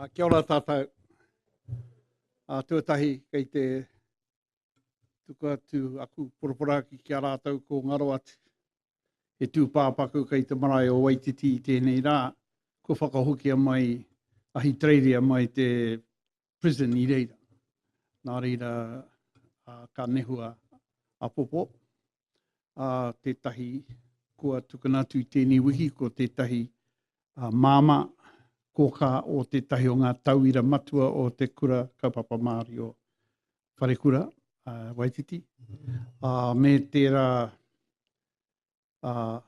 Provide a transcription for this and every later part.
A kia ora tātou. A tuatahi kei te tuku atu aku poroporoaki ki a rātou ko ngaro atu. He tūpāpaku kei te marae o Waititi i tēnei rā. Ko whakahokia mai a Hitreiria mai te prison i reira. Nā reira, uh, ka nehua a Popo, a uh, tētahi kua tukuna atu i tēnei wiki, ko tētahi uh, māma kōkā o tētahi o ngā tauira matua o te kura kaupapa Māori o Wharekura, uh, Waititi, uh, me tērā Uh,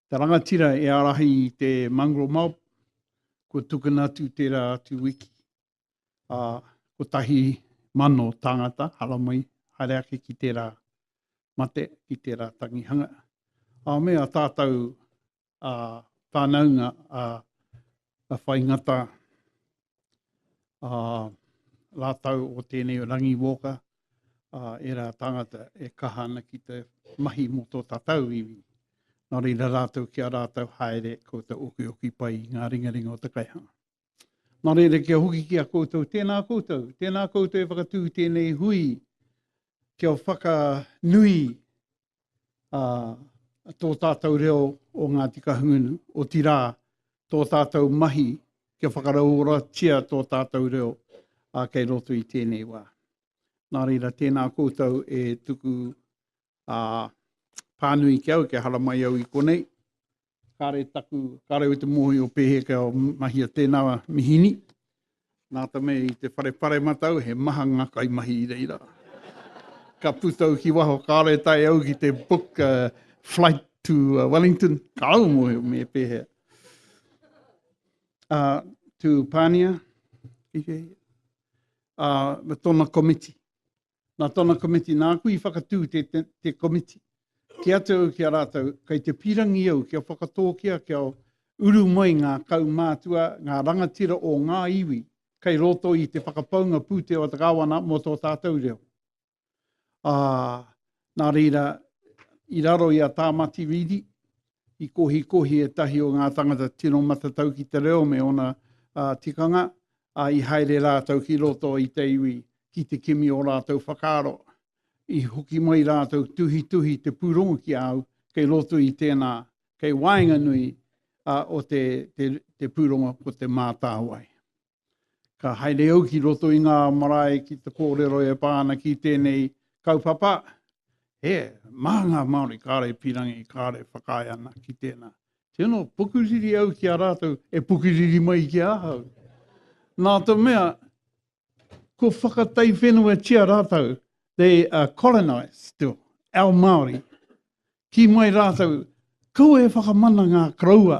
te rangatira e arahi i te mangro mau, ko tukuna atu tērā atu wiki. A, ko tahi mano tangata, haramai, haere ake ki tērā mate, ki tērā tangihanga. A me a tātou a whānaunga a Whai Ngata, a rātau o tēnei Rangi Walker, a ērā tāngata e kaha ana ki te mahi mō tō tātau iwi. Nā reira rātau ki a rātau haere koutou okioki pai i ngā ringaringa o te kaihanga. Nā reira kia hoki ki a koutou, tēnā koutou, tēnā koutou e whakatū tēnei hui kia o whakanui a tō tātou reo o Ngāti Kahungunu, o tirā tō tātou mahi kia whakarauoratia tō tātou reo a kei roto i tēnei wā. Nā reira, tēnā koutou e tuku ā, pānui ki au kia haramai au i konei. Kāre taku, kāre au i te mōhio pēhea kia mahia tēnā mihini. Nā te mea i te whare paremata au, he maha ngā kaimahi i reira. Ka puta au ki waho, kāre tae au ki te book a flight to Wellington, ka au mōhio me pēhea. Ā, tū Pānia, ā, me tōna komiti. Nā tōna komiti nāku i whakatū te, te, te komiti. Ki atu au ki a rātou, kei te pīrangi au kia whakatōkia, kia uru mai ngā kaumātua, ngā rangatira o ngā iwi kei roto i te whakapaunga pūtea o te kāwana mō tō tātou reo. Ā, nā reira, i raro i a Tāmati Rīri, i kohikohi ētahi o ngā tangata tino matatau ki te reo me ōna tikanga, ā, i haere rātou ki roto i te iwi ki te kimi ō rātou whakaaro. I hoki mai rātou tuhituhi te pūrongo ki a au kei roto i tēnā, kei waenganui o te pūrongo ko Te Mātāwai. Ka haere au ki roto i ngā marae ki te kōrero e pā ana ki tēnei kaupapa, he mā ngā Māori kāre e pīrangi, kāre whakaae ana ki tēnā. Tino pukuriri au ki a rātou e pukuriri mai ki ahau. Nā te mea, ko whakataiwhenuatia rātou, they are colonised still, our Māori. Kī mai rātou, Kaua e whakamana ngā koroua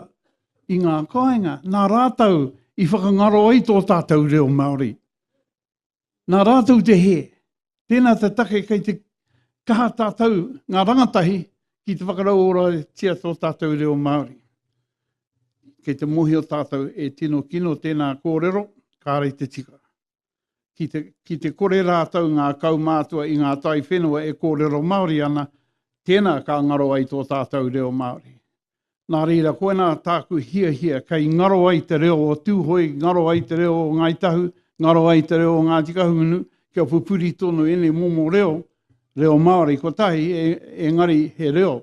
i ngā kāinga nā rātou i whakangaro ai tō tātou reo Māori. Nā rātou te hē. Tēnā te take kei te kaha tātou, ngā rangatahi, ki te whakarauoratia tō tātou reo Māori. Kei te mōhio tātou e tino kino tēnā kōrero, kāre te tika. Ki te, ki te kore rātou ngā kaumātua i ngā taiwhenua e kōrero Māori ana, tēnā ka ngaro ai tō tātou reo Māori. Nā reira, koinā tāku hiahia, kei ngaro ai te reo o Tūhoe, ngaro ai te reo o Ngāi Tahu, ngaro ai te reo o Ngāti Kahungunu, kia pupuri tonu ēnei momo reo, reo Māori kotahi, e, engari he reo.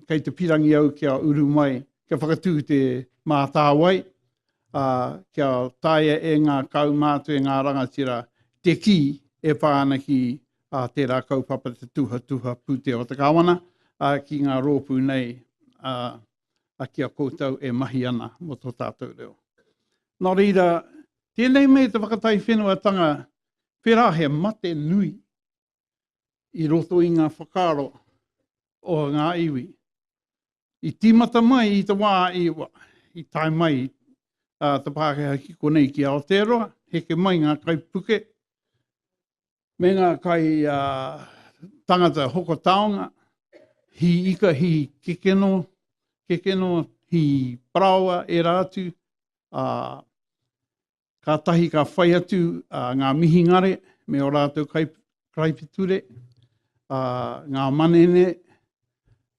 kei te pirangi au kia uru mai, kia whakatū te mātāwai, kia taea e ngā kaumātua, e ngā rangatira te kī e pā ana ki tērā kaupapa Te Tuhatuha Pūtea o te Kāwana, ki ngā rōpū nei ki a koutou e mahi ana mō tō tātou reo. Nō reira, tēnei me te whakataiwhenuatanga, pērā he mate nui, i roto i ngā whakaaro o ngā iwi. I tīmata mai i te wā i, i tae mai uh, te Pākehā ki konei ki Aotearoa, heke mai ngā kaipuke, me ngā kai uh, tangata hoko taonga, hi ika, hi kekeno, kekeno, hi paraoa, e rā atu, uh, Kātahi ka whai atu uh, ngā mihingare me o rātou kai, karaipiture, uh, ngā manene,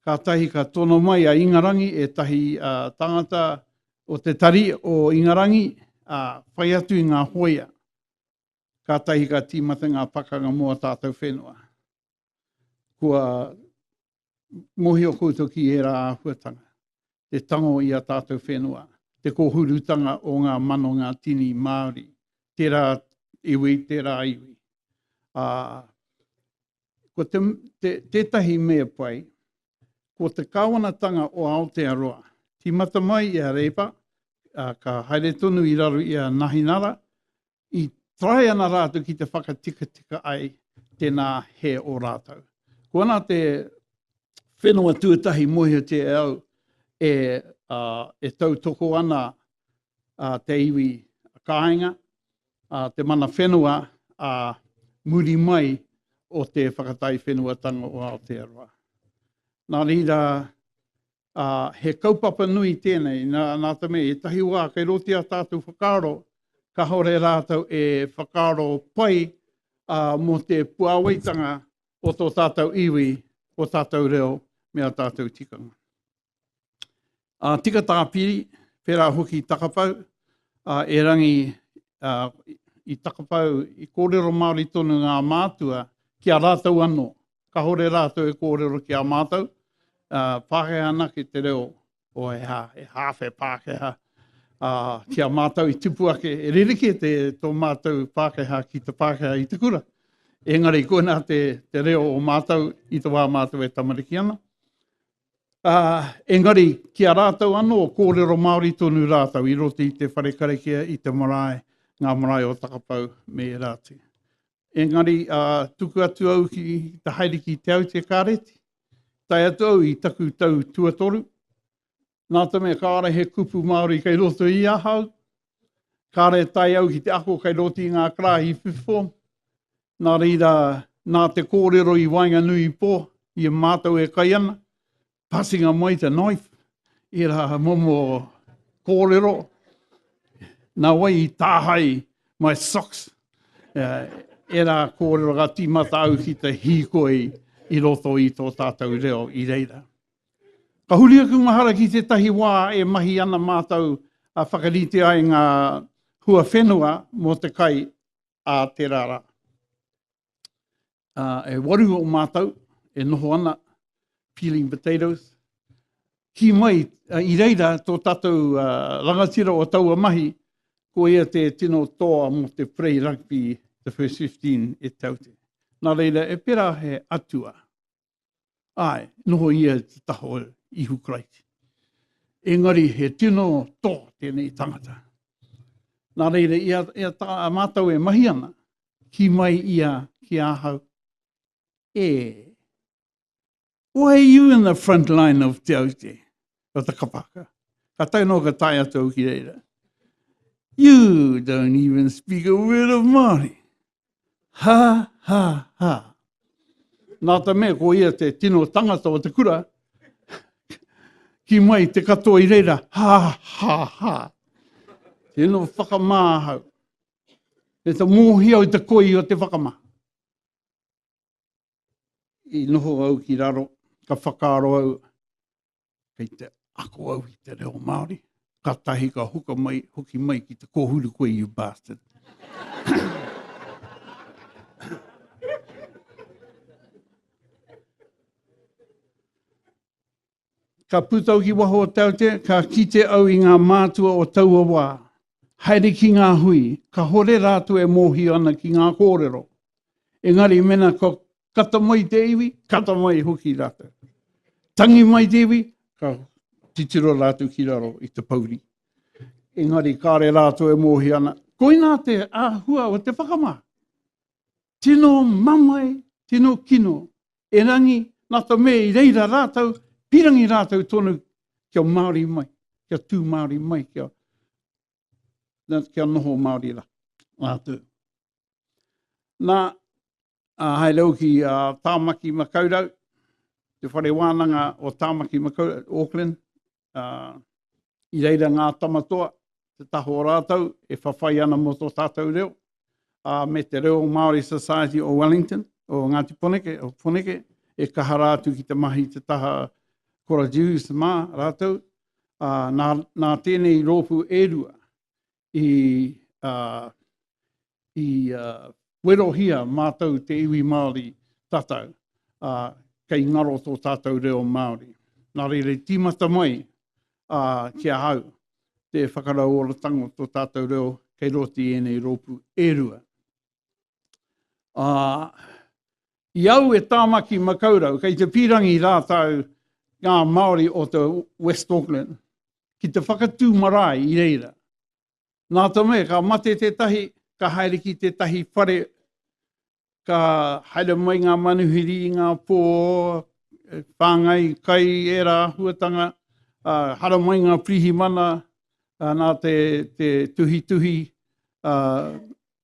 kātahi ka tono mai a Ingarangi e tahi uh, tangata o te tari o Ingarangi, uh, whai atu i ngā hoia. Kātahi ka tīmata ngā pakanga mō a tātou whenua. kua mohio koutou ki ērā āhuatanga, te tango i a tātou whenua, te kōhurutanga o ngā manonga tini Māori, tērā iwi, tērā iwi. Ā, ko te, te, tētahi me pai, ko te kāwanatanga o Aotearoa, tīmata mai i a Reipa, ā, ka haere tonu i raro i a Nahinara, i try ana rātou ki te whakatikatika ai tēnā he o rātou. Ko ana te whenua tuatahi mōhiotia e au e, uh, e tautoko ana uh, te iwi kāinga, uh, te mana whenua a uh, muri mai o te whakatai whenuatanga o Aotearoa. Nā rīra, ā, he kaupapa nui tēnei, nā, nā te mea, ētahi wā kei roto i a tātou whakaaro, kāore rātou e whakaaro pai, ā, mō te puāwaitanga o tō tātou iwi, o tātou reo me ā tātou tikanga. Ā, tika tāpiri, pērā hoki i Takapau, ā, erangi, ā, i Takapau, i kōrero Māori tonu ngā mātua ki a rātou anō, Kahore ratou e korero ki a matou, Pakeha anake te reo o he ha, he hawhe Pakeha ki a matou i tipu ake, e ririki to matou Pakeha ki te Pakeha i te kura. Engari koina te, te reo o matou i te wa matou e tamariki ana. Uh, engari, ki a rātou anō, kōrero Māori tonu rātou i roto i te whare karakia, i te marae, ngā marae o Takapau me Erāti. Engari, ā, tuku atu au ki te haere ki Te Aute Kāreti, tae atu au i taku tau tuatoru, nā te mea kāore he kupu Māori kei roto i ahau, kāore e tae au ki te ako kei roto i ngā karahi i whiwhi, nā reira, nā te kōrero i waenganui i pō, i a mātou e kai ana, passing a mai te knife, i rā momo kōrero, nā wai i tāhai my socks, uh, e rā kōrero ka tīmata au ki te hīkoi i roto i tō tātou reo i reira. Ka huri aku mahara ki tētahi wā e mahi ana mātou a whakarite ai ngā hua whenua mō te kai a te rara. Uh, e waru o mātou e noho ana peeling potatoes. Ki mai, uh, i reira tō tātou uh, rangatira o taua mahi, ko ia te tino toa mō te Prey Rugby The First 15 e taute. Nā reira, e pera he atua. Āe, noho ia i te taha o Ihu Karaiti. Engari he tino tō tēnei tangata. Nā reira, ia, ia tā, a mātou e mahi ana, ki mai ia ki ahau. E, why are you in the front line of Te Aute? Ka takapaka. Ka tae noa ka tae atu au ki reira. You don't even speak a word of Māori. Ha, ha, ha. Nā ta mea ko ia te tino tangata o te kura, ki mai te katoa i reira, ha, ha, ha. Tino whakamā hau. E ta mōhi au te koi o te whakamā. I noho au ki raro, ka whakaaro au, kei te ako au i te reo Māori, ka tahi ka huka mai, hoki mai ki te kōhuru koe, you bastard. ka pūtau ki waho o Tautea, ka kite au i ngā mātua o taua wā, Haere ki ngā hui, kahore rātou e mōhio ana ki ngā kōrero. Engari mena ka kata mai te iwi, kata mai hoki rātou. Tangi mai te iwi, ka titiro rātou ki raro i te pouri. Engari kāre rātou e mōhio ana, koinā te āhua o te whakamā. Tino mamae, tino kino erangi, na to me i reira ratou, pirangi ratou tonu kia Maori mai, kia tu Maori mai, kia, na, kia noho Maori ra, ratou. Na, a, hai rau ki a Tamaki Makaurau, te whare wānanga o Tamaki Makaurau, Auckland, Uh, I reira ngā tamatoa, te taha o rātou e whawhai ana mō tō tātou reo, uh, me te reo Māori Society o Wellington, o Ngāti Poneke, o Poneke, e kaha rā atu ki te mahi te taha Kora Jews mā rātou, uh, nā, nā tēnei rōpū e rua, i, uh, i uh, werohia mātou te iwi Māori tatau, uh, kei ngaro tō tātou reo Māori. Nā reira tīmata mai uh, ki a hau te whakarauoratanga o tō tātou reo kei roti i ēnei rōpū e rua. Ā, i au e Tāmaki Makaurau, kei te pīrangi rātou ngā Māori o te West Auckland, ki te whakatū marae i reira. Nā te mea, ka mate tētahi, ka haere ki tētahi whare, ka haere mai ngā manuhiri i ngā pō, e whāngai kai ērā āhuatanga, ā, hara mai ngā pirihimana, ā, nā te, te tuhituhi, ā,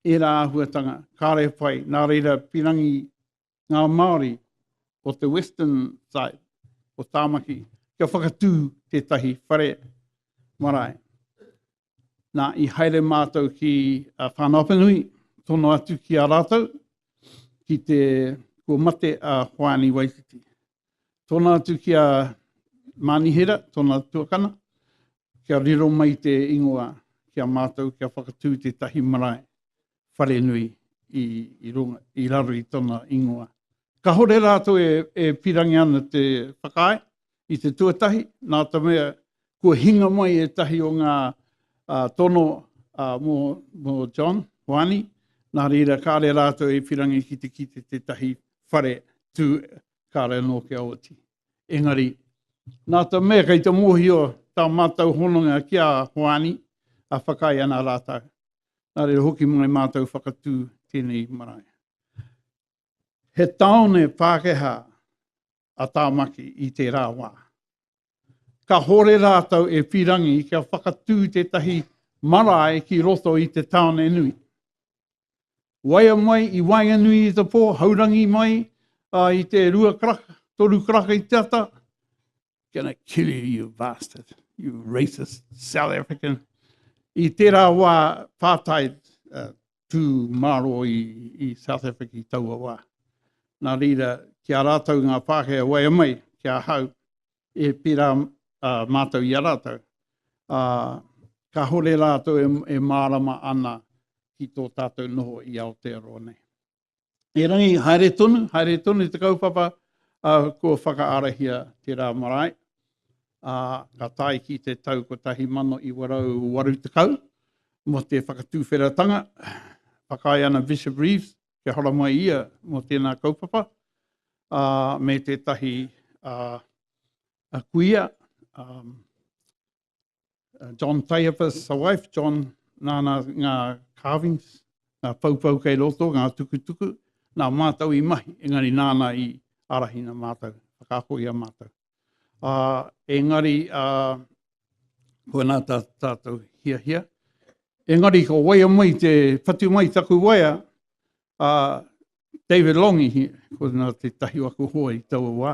ērā āhuatanga kāre pai, nā reira pirangi ngā Māori o te western side, o Tāmaki, kia whakatū tētahi whare marae. Nā, i haere mātou ki a Whānaupanui, tono atu ki a rātou, ki te kua mate a Hoani Waititi. Tōna atu ki a Mānihera, tōna tuakana, kia riro mai te ingoa ki a mātou, kia whakatū tētahi marae wharenui i, i, runga, i raro i tōna ingoa. Ka hore rātou e, e pirangi ana te whakaae i te tuatahi, nā tamea kua hinga mai ētahi o ngā tono mō John Hoani, nā reira kāre rātou e whirangi ki te kite tētahi whare tū kāre anō kia oti. Engari, nā tā mea kei te mōhio tā mātou hononga ki a Hoani, a whakaae ana rātou. Nā reira hoki mai mātou whakatū tēnei marae. He tāone Pākehā a Tāmaki i tērā wā. Ka hore rātou e Pirangi kia whakatū tētahi marae ki roto i te tāone nui. Waia mai i waenga nui i te pō, haurangi mai uh, i te rua karaka, toru karaka i te ata. Gonna kill you, you bastard, you racist South African. I tērā wā pātai uh, tū mārō i, i South Africa i taua wā. Nā reira, ki a rātou ngā Pākehā waea mai, ki a hau, e pērā uh, mātou i a rātou. Uh, ka hore rātou e, e mārama ana ki tō tātou noho i Aotearoa nei. Erangi, haere tonu, haere tonu i te kaupapa uh, kua whakaarahia te rā marae. Uh, ka tae ki te tau 1980 mo te whakatūwheratanga. Whakae ana Bishop Reeves kia hora mai ia mo tēnā kaupapa uh, me tētahi uh, a kuia um, uh, John Taiapas, sa wife, John, nāna ngā carvings, ngā paupau kei roto, ngā tukutuku, nā mātou i mahi, engari nāna i arahina mātou, whakaako i a mātou. Uh, engari, uh, ko nā tā, tātou hia hia. Engari, ko waia mai te patu mai taku waia, uh, David Longi, ko nā te tahi waku hoa i taua wā.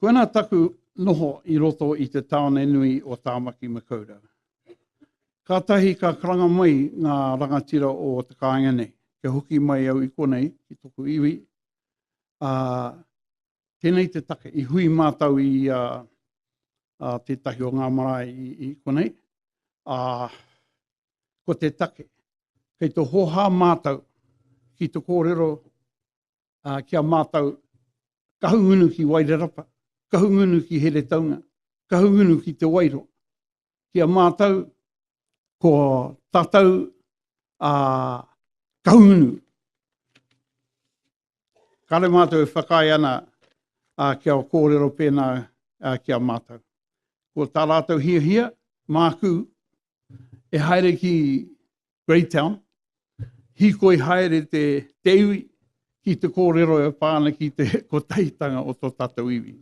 Koinā taku noho i roto i te tāone nui o Tāmaki Makaurau. Kātahi ka karanga mai ngā rangatira o te kāinga nei, kia hoki mai au i konei ki toku iwi, ā, tēnei te take i hui mātau i a, a tētahi o ngā marae i, i konei, ā, ko te take, kei te hoha mātau ki te kōrero ki a mātou Kahungunu ki Wairarapa, Kahungunu ki Heretaunga, Kahungunu ki Te Wairoa. Ki a mātou, ko tātou a Kahungunu. Kare mātou e whakae ana a, ki a kōrero pēnā a, ki a mātou. Ko tā rātou hia hia, māku e haere ki Greytown, hīkoi haere te, te iwi ki te kōrero e pā ana ki te kotahitanga o tō tātou iwi.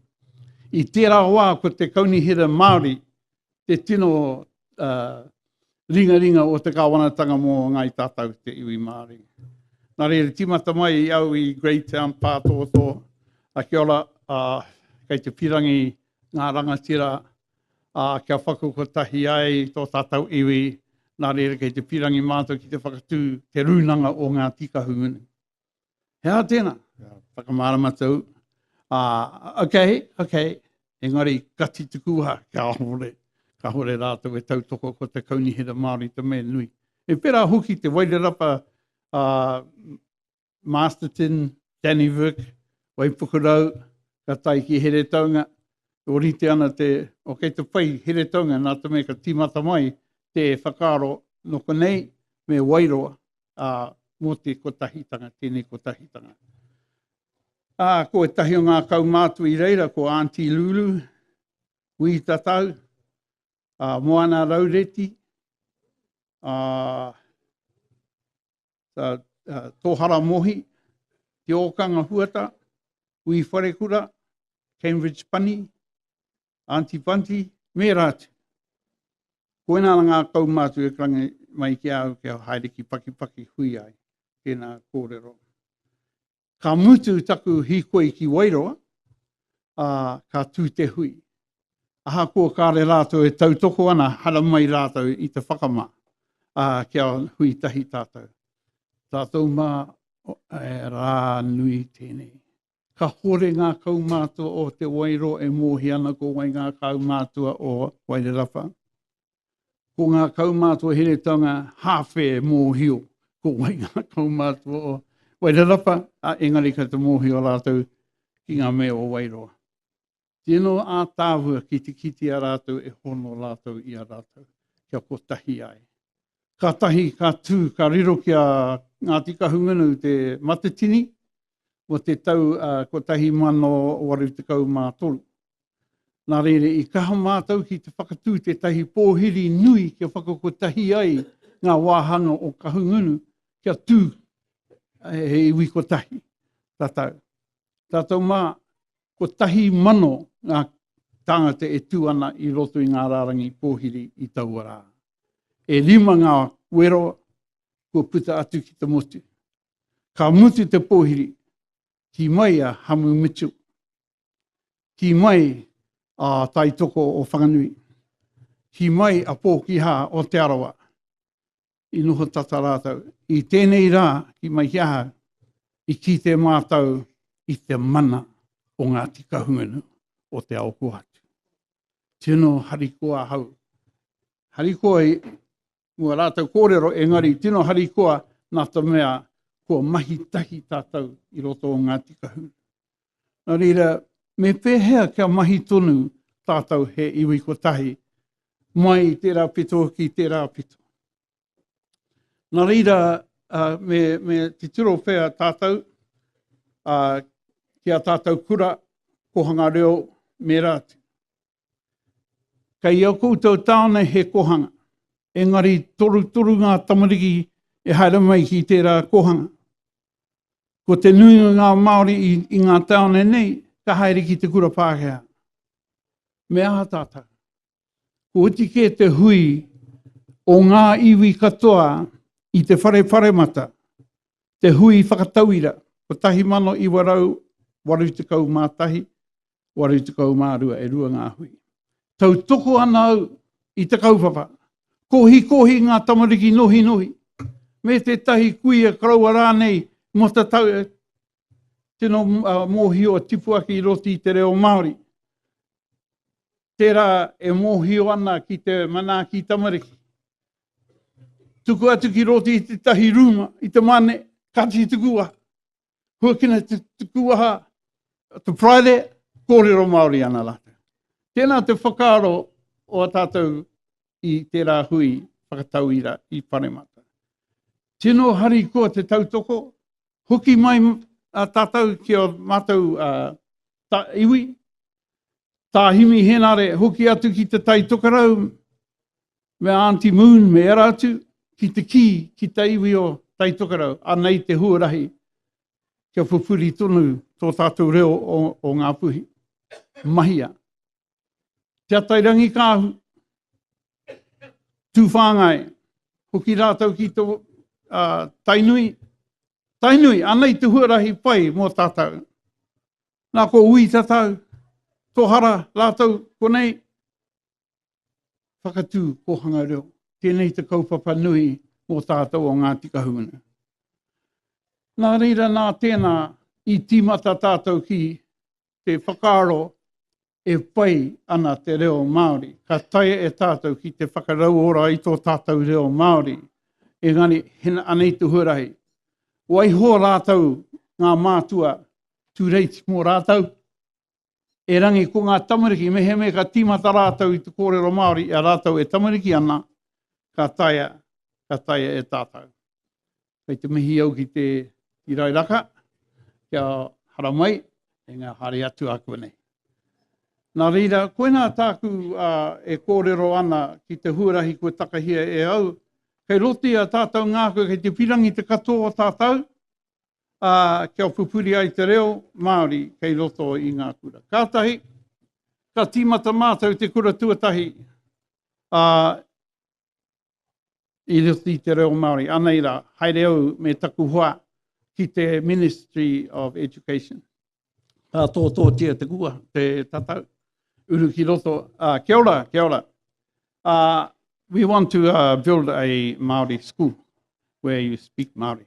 I tērā wā ko te kaunihera Māori te tino uh, ringaringa o te kāwanatanga mō ngai tātou te iwi Māori. Nā reira, tīmata mai i au i Greytown, Pātōtō, a kia ora, a, kei te pirangi ngā rangatira ā, kia paku kotahi ai tō tātou iwi, nā reira kei te pīrangi mātou ki te whakatū te rūnanga o ngā tī kahungunu. He aha tēnā? Whakamārama tou, ā, okay, okay, engari ka titi kūhā, kāore, kāore rātou e tautoko ko te Kaunihera Māori te mea nui. E pērā hoki te Wairarapa, ā, Masterton, Dannevirke, Waipukurau, ka tae ki Heretaunga, e orite ana te, o kei te whai Heretaunga, nā te mea ka tīmata mai te whakaaro nō konei me Wairoa, ā, mō te kotahitanga, tēnei kotahitanga. Ā, ko ētahi o ngā kaumātua i reira, ko Aunty Lulu, Wī Tatau, ā, Moana Raureti, ā, uh, uh, Tōhara Mohi, Te Ōkanga Huata, Ui Wharekura, Cambridge Pani, Auntie Panti, me rātu. Koina ngā kau mātu e krangi mai ki au kia haere ki pakipaki hui ai. Tēnā kōrero. Ka mutu taku hīkoi ki Wairoa, ā, ka tū te hui. Ahakoa kāre rātou e tautoko ana, hara mai rātou i te whakamā, ā, kia hui tahi tātou. Tātou mā, e rā nui tēnei. Kahore ngā kaumātua o Te Wairua e mōhia ana ko wai ngā kaumātua o Wairarapa. Ko ngā kaumātua heretanga hāwhe e mōhio, ko wai ngā kaumātua o Wairarapa, a engari ka te mōhio rātou ki ngā mea o Wairoa. Tino ātāhua ki te kiti a rātou e hono rātou i a rātou, kia kotahi ai. Ka tahi, ka tū, ka riro ki a Ngāti Kahungunu te matatini, mo te tau 1813. Nā reira, i kaha mātou ki te whakatū tētahi pōhiri nui kia whakakotahi ai ngā wāhanga o Kahungunu kia tū he iwi kotahi tātou. Tātou mā, kotahi mano ngā tāngata e tū ana i roto i ngā rārangi pōhiri i taua rā. E rima ngā wero kua puta atu ki te motu. Ka mutu te pōhiri, ki mai a Hamu Mitchell. Ki mai a Taitoko o Whanganui. Ki mai a Pōkiha o Te Arawa. I noho tata rātou. I tēnei rā, ki mai ki ahau, i kite mātou i te mana o Ngāti Kahungunu o Te Aokoatu. Tino harikoa ahau. Harikoa Mua rātou kōrero engari tino harikoa nā te mea kua mahi tahi tātou i roto o Ngāti Kahuru. Nā reira, me pēhea kia mahi tonu tātou he iwi kotahi mai i tērā pito ki tērā pito. Nā reira, uh, me, me titiro pēa tātou uh, ki a tātou kura, kohanga reo, mērā atu. Kei ō koutou tāone he kōhanga, engari torutoru ngā tamariki e haere mai ki tērā kōhanga. Ko te nuinga ngā Māori i ngā tāone nei ka haere ki te kura Pākehā. Me aha tātou? Ko oti kē te hui o ngā iwi katoa i te whare paremata, te hui whakatauira 1981, 82 e rua ngā hui. Tautoko ana au i te kaupapa. Kohikohi ngā tamariki nohinohi, me tētahi kuia koroua rānei mō te tau e tino mōhio a tipuaki roti i te reo Māori. Tērā e mōhio ana ki te manaaki tamariki. Tuku atu ki roti i tētahi rūma, i te mane, ka tituku wā. Huakina te tuku waha, to Friday, kōrero Māori ana rātou. Tēnā te whakaaro o a tātou i tērā hui whakatauira i Paremata. Tino hari koa te tautoko, hoki mai a tātou ki o mātou a, ta, iwi, tā Himi Henare, hoki atu ki te tai tokarau, me Aunty Moon, me ērā atu, ki te kī, ki te iwi o Taitokerau, anei te huarahi kia pupuri tonu tō tātou reo o Ngā Puhi. Mahia. Te Atairangikaahu, Tūwhāngai, hoki rātou ki tō uh, Tainui. Tainui, anei te huarahi pai mō tātou. Nā ko ui tātou, tō hara rātou konei, whakatū kōhanga reo. Tēnei te kaupapa nui mō tātou o Ngāti Kahungunu. Nā reira nā tēnā i tīmata tātou ki te whakaaro e pai ana te reo Māori. Ka tae e tātou ki te whakarauora i tō tātou reo Māori. Engari, hena anei te huarahi. Waiho rātou ngā mātua tū reiti mō rātou. Erangi, ko ngā tamariki, mehemea ka tīmata rātou i te kōrero Māori i a rātou e tamariki ana, ka taea, ka taea e tātou. Kei te mihi au ki te Irairaka, kia haramai e ngā haere atu a konei. Nā reira, koinā tāku a, e kōrero ana ki te huarahi kua takahia e au, kei roto i a tātou ngā koe, kei te pirangi te katoa o tātou, ā, kia pupuri ai te reo Māori kei roto i ngā kura. Kātahi, ka tīmata mātou te kura tuatahi ā, i roto i te reo Māori. Anei rā, haere au me taku hoa ki te Ministry of Education. Ka tōtōtia te kua, te tatau, uru ki roto. Ā, kia ora, kia ora. Ā, we want to uh, build a Māori school where you speak Māori.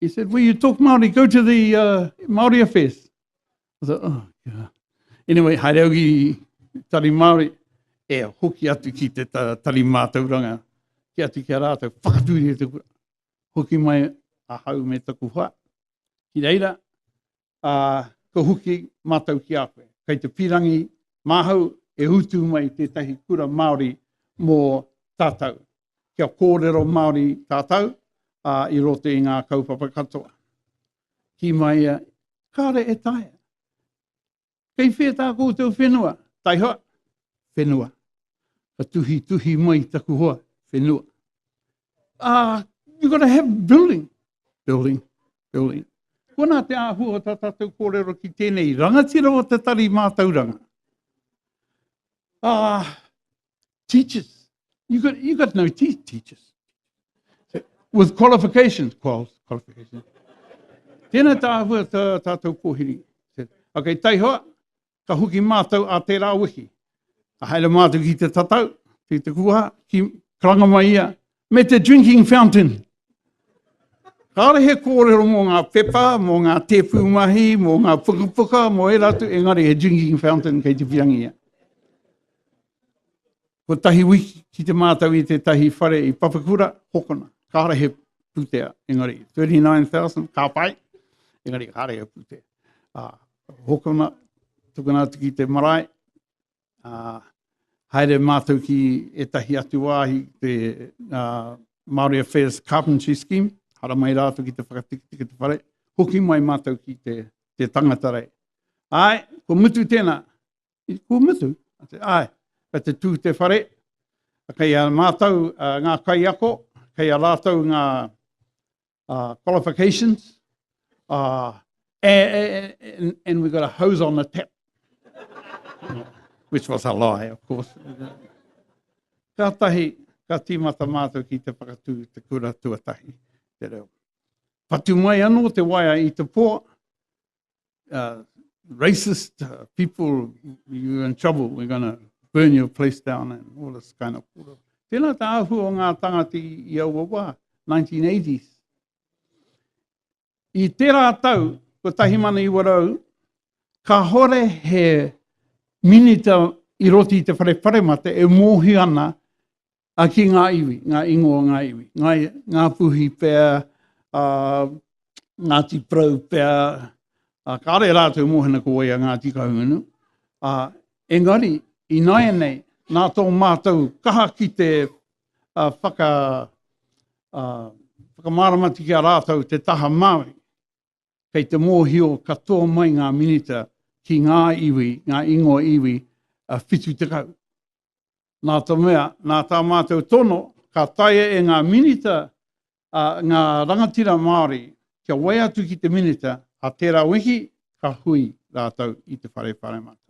He said, will you talk Māori, go to the uh, Māori affairs. I thought, oh, yeah. Anyway, haere au ki tari Māori, e hoki atu ki te tari mātauranga, ki atu ki a rātou, whakatūri e te kura. Hoki mai a hau me taku hoa, ki reira, ā, kua hoki mātou ki a koe. Kei te pīrangi māhau e utu mai tētahi kura Māori mō tātou. Kia kōrero Māori tātou, ā, i roto i ngā kaupapa katoa. Kī mai ia, kāre e taea. Kei whea tā koutou whenua? Taihoa, whenua. Ka tuhi tuhi mai taku hoa, whenua. Ah, uh, you gotta have building. Building, building. Kona te āhua o tā tātou kōrero ki tēnei rangatira o te tari mātauranga. Ah, uh, Teachers. You got, you got no teeth, teachers. With qualifications. Quals, qualifications. Tēnā tā hua tā, tātou kōhiri. Ok, taihoa, ka huki mātou a tērā wiki. Ka haere mātou ki te tatau, ki te kuha, ki karanga mai ia, me te drinking fountain. Kāore he kōrero mō ngā pepa, mō ngā tēpū mahi, mō ngā pukapuka, mō e rātou, engari he drinking fountain kei te pirangi ia. Ko tahi wiki ki te mātau i te tahi whare i Papakura, hokona, kāore he pūtea, engari 39,000, kā pai, engari kāore he pūtea. Ah, hokona, tukuna atu ki te marae, Uh, haere mātou ki etahi atu wāhi, te uh, Māori Affairs Carpentry Scheme, hara mai rātou ki te whakatikitiki te whare, hoki mai mātou ki te, te tangata rei. Ai, ko mutu tēnā, ko mutu, ai, ka te tū te whare, kei a mātou uh, ngā kaiako, kei a rātou ngā, uh, qualifications, uh, and, and, and we got a hose on the tap, which was a lie, of course. Ka tahi, ka tīmata mātou ki te whakatū te kura tuatahi, te reo. Patu mai anō te waia i te pō, uh, racist uh, people, you're in trouble, we're going to burn your place down and all this kind of kura. Tēnā tā ahu o ngā tangati i aua wā, 1980s. I tērā tau, 1900, ka hore he minita i roti te whare whare mate e mōhi ana a, ki ngā iwi, ngā ingoa o ngā iwi, ngā, ngā puhi pea, a, Ngāti Prau pea, a, kāre rātou mōhena ko wai a Ngāti Kahungunu, a, engari, i nāianei, nā tō mātou kaha ki te a, whaka, a, whakamāramati ki a rātou te taha Māori, kei te mōhio katoa mai ngā minita ki ngā iwi, ngā ingoa iwi, a, 70. Nā te mea, nā tā mātou tono, ka taea e ngā Minita ngā rangatira Māori kia whai atu ki te Minita a tērā wiki ka hui rātou i te Whare Pāremata.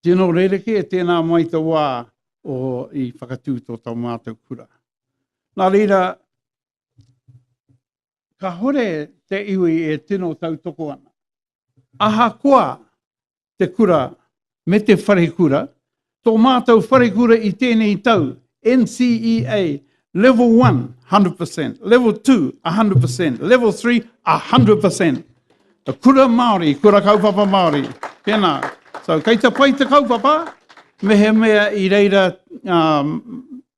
Tino rerekē tēnā mai te wā o i whakatū tō tā mātou kura. Nā reira, kāore te iwi e tino tautoko ana. Ahakoa te kura me te wharekura, tō mātou wharekura i tēnei tau, NCEA, Level one, 100%, Level two, 100%, Level three, 100%. Kura Māori, kura kaupapa Māori. Tēnā. So, kei te pai te kaupapa, mehemea i reira ngā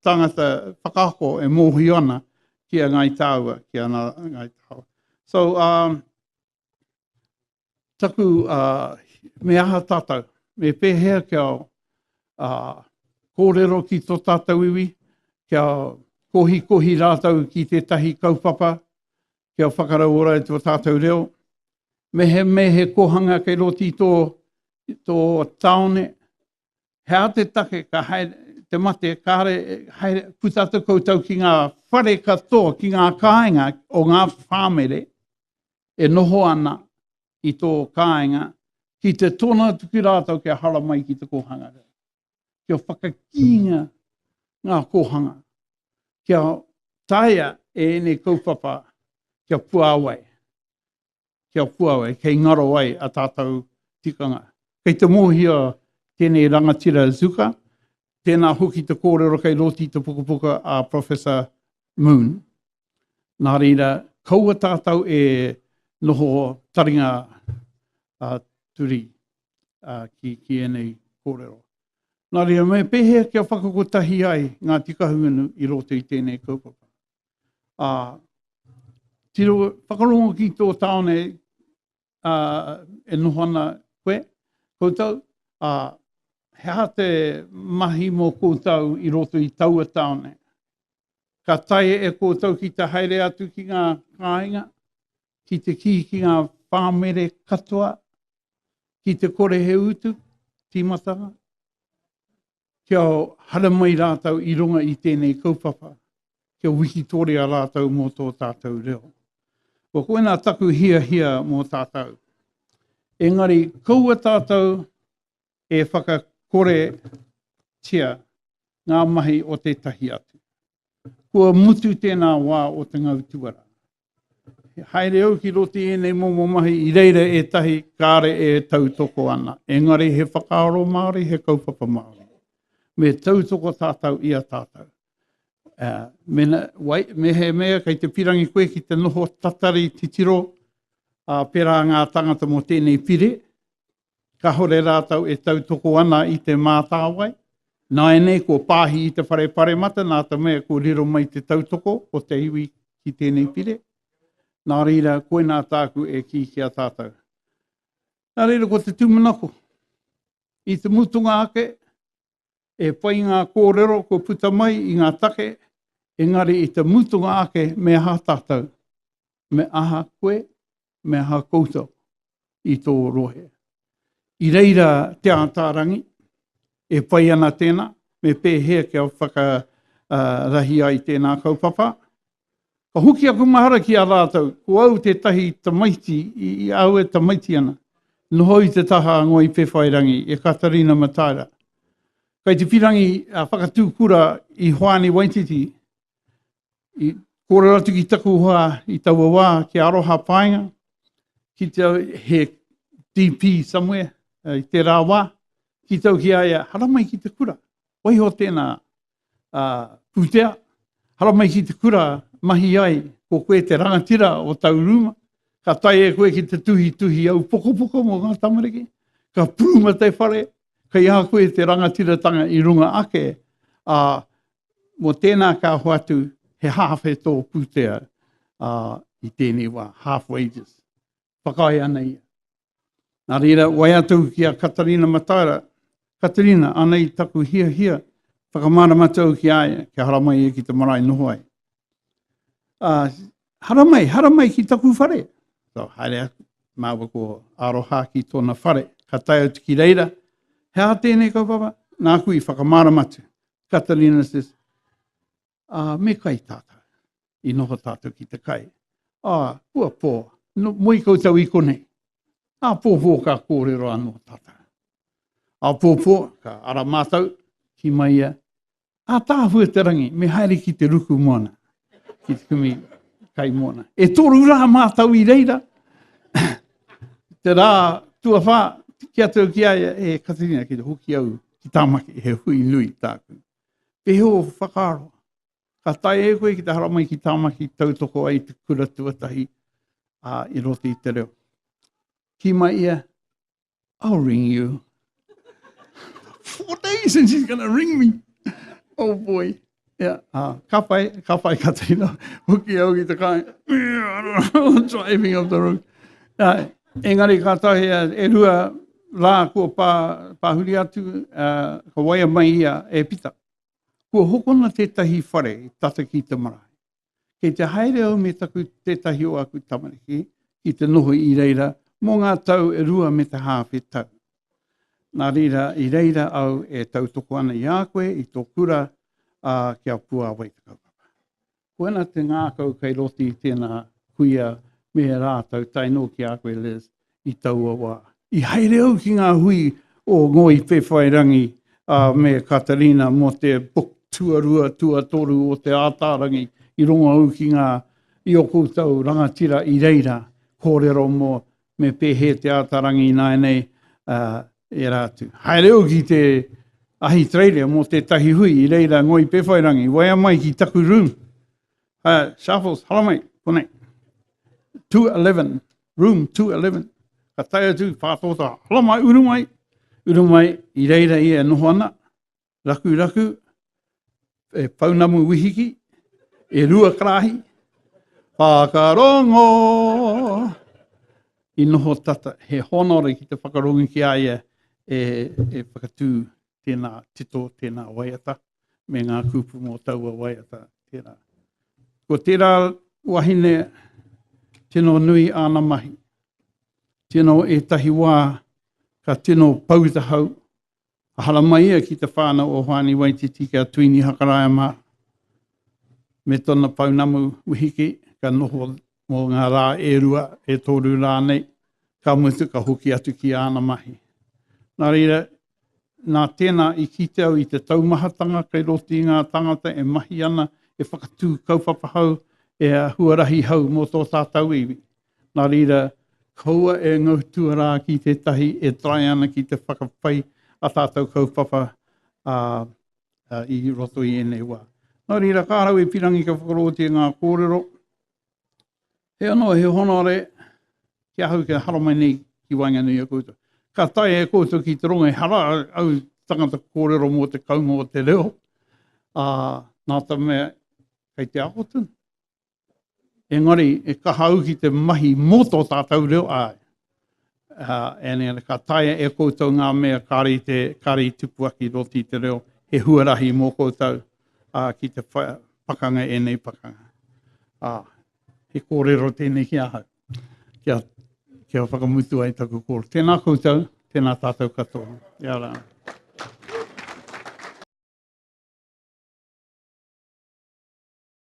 tāngata whakaako e mōhio ana ki a Ngāi Tāua, ki a Ngāi Tāua. So, um, Taku, uh, me aha tātou? Me pēhea kia uh, kōrero ki tō tātou iwi, kia kohikohi rātou ki tētahi kaupapa, kia whakarauora i tō tātou reo. Me he, me he kohanga kei roti tō, tō taone, he aha te take ka haere te mate, kāre haere, puta atu koutou ki ngā whare katoa, ki ngā kāinga o ngā whāmere e noho ana i tō kāinga, ki te tōna atu ki rātou kia hara mai ki te kōhanga reo. Kia whakakīnga ngā kōhanga, kia taia e ēnei kaupapa kia puāwai. ki a Kuawai, kei ngaro ai a tātou tikanga. Kei te mōhio tēnei rangatira Zuka, tēnā hoki te kōrero kei roti te pukapuka a Professor Moon. Nā reira, kaua tātou e noho taringa a Turi a, ki, ki enei kōrero. Nā reira, me pēhea kia whakakotahi ai ngā tikahungunu i roto i tēnei kaupapa. Uh, tiro, whakarongo ki tō tāone uh, e noho ana koe, koutou, uh, he aha te mahi mō koutou i roto i taua tāone? Ka tae e koutou ki te haere atu ki ngā kāinga, ki te kī ki ngā pāmere katoa, ki te kore he utu, tīmatanga. kia haramai rātou i runga i tēnei kaupapa, kia wikitoria rātou mō tō tātou reo. Ko koina taku hiahia mō tātou. Engari, kaua tātou e whakakoretia ngā mahi o tētahi atu. Kua mutu tēnā wā o te ngau tuara. haere au ki roti ēnei momo mahi, i reira e tahi kāre e tautoko ana. Engari he whakaaro Māori, he kaupapa Māori. Me tautoko tātou i a tātou. Uh, me, na, wai, me he mea kei te pirangi koe ki te noho tatari titiro uh, pērā ngā tangata mō tēnei pire, Kahore rātou e tautoko ana i te mātāwai. Nāianei kua pāhi i te whare paremata nā te mea kua riro mai te tautoko o te iwi ki tēnei pire. Nā reira, koinā tāku e kī ki a tātou. Nā reira, ko te tūmanako. I te mutunga ake, E pai ngā kōrero kua puta mai i ngā take, engari i te mutunga ake me aha tātou, me aha koe, me aha koutou i tō rohe. I reira Te Ātaarangi, e pai ana tēnā, me pēhea kia whakarahi ai tēnā kaupapa, Ka hoki aku mahara ki a rātou, ko au tētahi tamaiti i aue tamaiti ana, noho i te taha a Ngoi Pewhairangi, e Katarina Mataira. Kei te whirangi whakatū kura i Hoani Waititi, i kōrero atu ki taku hoa i taua wā ki Aroha Paenga, ki te au he DP somewhere, i tērā wā, ki tau ki a ia, haramai ki te kura, waiho tēnā, pūtea, haramai ki te kura, mahi ai, ko koe te rangatira o tau rūma, ka tae e koe ki te tuhituhi au pokopoko mō ngā tamariki, ka pūma te whare, kei a koe te rangatiratanga i runga ake, a, mō tēnā ka hoatu he half e tō pūtea i tēnei wā, half wages. whakaae ana ia. Nā reira, wai atu ki a Katarina Mataara, Katarina, anei taku hiahia, whakamāramatu au ki a ia, kia haramai ia ki te marae noho ai. Uh, haramai, haramai ki taku whare. So, haere aku, māua ko aroha ki tōna whare, ka tae atu ki reira, he aha tēnei kaupapa? Nā kui, whakamāramatu. Katarina says, ā, me kai tātou. I noho tātou ki te kai, ā, kua pō, moe koutou i konei. Āpōpō ka kōrero anō tātou. Āpōpō ka ara mātou ki mai ia, Ātāhua te rangi, me haere ki te ruku moana, ki te kumi kai moana. E tōru rā mātou i reira, te rā tuawhā, ki atu ki aia, e Katarina, ki te hoki au ki Tāmaki, he hui nui tāku. Pēhea o whakaaro, ka tae e koe ki te haramai ki Tāmaki tautoko ai te kura tuatahi a i roto i te reo. Ki mai ia, I'll ring you. Four days and she's going to ring me. Oh boy. Yeah, uh, ka whai, ka whai ka teina. Hoki au ki te kai. Driving up the road. Uh, Engari kātahi e rua rā kua pā, pāhuri atu, ā, ka waia mai ia e Pita. Kua hokona tētahi whare tata ki te marae. Kei te haere au me taku, tētahi o aku tamariki ki te noho i reira mō ngā tau e rua me te hāwhe tau. Nā reira, i reira au e tautoko ana i a koe i tō kura, ā, ki a Puāwai te kaupapa. Koina te ngākau kei roti i tēnā kuia me he rātau tae noa ki a koe Liz i taua wā. I haere au ki ngā hui o Ngoi Pewhairangi a me Katarina mō te book tuarua tuatoru o Te Ātaarangi i rongo au ki ngā i o koutou rangatira i reira kōrero mō me pēhē te āta rangi ināianei ērā atu. Haere au ki te Ahitereiria mō tētahi hui i reira ngoi pewhairangi, waea mai ki taku room. Uh, Sharples, hala mai, konei. 211, room 211. Ka tae atu, pātōtā, hala mai, uru mai, uru mai, i reira ia e noho ana, rakuraku, e pounamu wihiki, e rua karahi, whakarongo. I noho tata, he honore ki te whakarongo ki a ia e, e whakatū tēnā tito, tēnā waiata, me ngā kupu mō taua waiata. Tērā. Ko tērā wahine tino nui āna mahi. Tino ētahi wā ka tino pau tahau, Ka haramai ia ki te whānau o Hoani Waititi ki a Tuini Hakaraia mā, me tona pounamu Wihiki, ka noho mō ngā rā e rua, e tōru rānei, ka mutu ka hoki atu ki āna mahi. Nā reira, nā tēnā i kite au i te taumahatanga kei roto i ngā tāngata e mahi ana, e whakatū kaupapa hau, e huarahi hau mō tō tātau iwi. Nā reira, kaua e ngau tuarā ki tētahi e taea ana ki te whakapai a tātou kaupapa a, a, i roto i ēnei wā. Nā reira, kā rau e pirangi ka whakarotia ngā kōrero, he anō, he honore ki ahau kia haramai nei ki waenganui a koutou. Ka tae e koutou ki te rongo, ehara au tangata kōrero mō te kaunga o te reo, a, nā te mea, kei te ako tonu. engari e kaha au ki te mahi mō tō tātou reo āe. Uh, ka taia e koutou ngā mea kāre i, te, kāre i tupu aki roti i te reo, he huarahi mō koutou uh, ki te pakanga e nei pakanga. Uh, he kōrero tēnei ki ahau, kia, kia whakamutu ai taku kōrero. Tēnā koutou, tēnā tātou katoa. Ia rā.